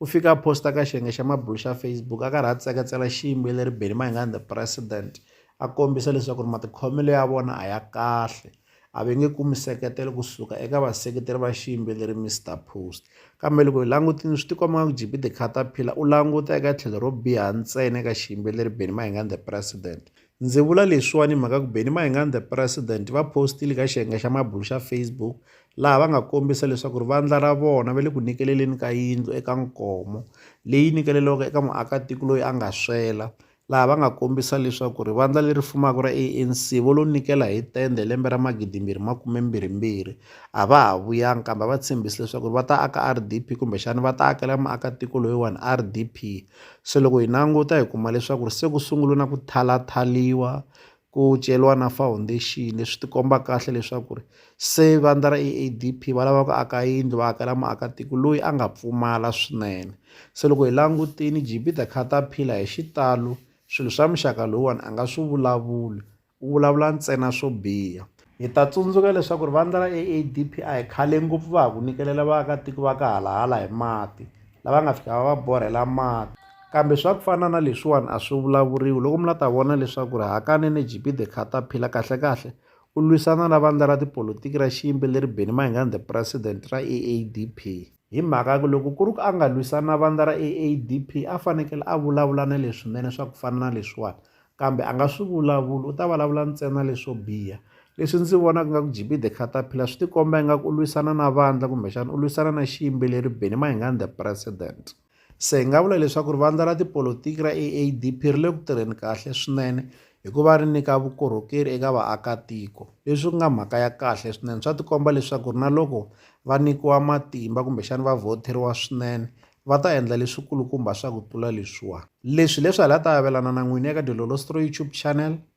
U fike a posta ka xiyenge xa mabulo xa Facebook a karhi a tsekatsela xiyimbeleri Benny Mayengani The President a kombisa leswaku ri matikhomelo ya vona a ya kahle a ve nge kumi seketelo kusuka eka vaseketeri va xiyimbeleri Mister Post kambe loko hi langutini swi tikomba nga ku GB The Caterpillar u languta eka tlhelo ro biha ntsena eka xiyimbeleri Benny Mayengani The President Ndzi vula leswiwani hi mhaka ku Benny Mayengani the president va postile ka xiyenge xa mabulo xa Facebook laha va nga kombisa leswaku ri vandla ra vona va le ku nyikeleleni ka yindlu eka nkomo leyi nyikeleliwaka eka muakatiko loyi a nga swela laha va nga kombisa leswaku ri vandla leri fumaka ra ANC vo lo nyikela hi tende lembe ra magidimbirhi makumembirhimbirhi a va ha vuyanga kambe va tshembisi leswaku ri va ta aka RDP kumbexana va ta akela muakatiko loyiwani RDP Se loko hi languta hi kuma leswaku se ku sungula na ku thyalathyaluwa ku ceriwa na foundation leswi ti komba kahle leswaku ri se vandla ra A_A_D_P va lava ku aka yindlu va hakela muakatiko loyi a nga pfumala swinene se loko hi langutile G_B the caterpillar hi xitalo swilo swa muxaka lowuwani a nga swi vulavuli. U vulavula ntsena swo biha. Hi ta tsundzuka leswaku ri vandla ra AADPI khale ngopfu va ha ku nyikelela vaakatiko va ka halahala hi mati, lava nga fika va va borhela mati. Kambe swa ku fana na leswiwani a swi vulavuriwi loko mi la ta vona leswaku ri hakanene JP the Caterpillar kahle-kahle u lwisana na vandla ra tipolitiki ra xiyimbeleri Benny Mayengani the President ra AADP. Hi mhaka ku loko ku ri ku a nga lwisani na vandla ra AADP a fanekele a vulavula na leswinene swa ku fana na leswiwani kambe a nga swi vulavuli u ta vulavula ntsena leswo biha leswi ndzi vonaka nga ku GB the Caterpillar swi tikomba ingaku u lwisana na vandla kumbexana u lwisana na xiyimbeleri Benny Mayengani the president se hi nga vula leswaku ri vandla ra tipolotiki ra AADP ri le ku tirheni kahle swinene hikuva ri nyika vukorhokeri eka vaakatiko leswi ku nga mhaka ya kahle swinene swa tikomba leswaku ri na loko va nyikiwa matimba kumbexani va vhoteriwa swinene va ta endla leswikulukumba swa ku tlula leswiwani leswi leswi hala ta avelana na n'wini eka dilolosto youtube channel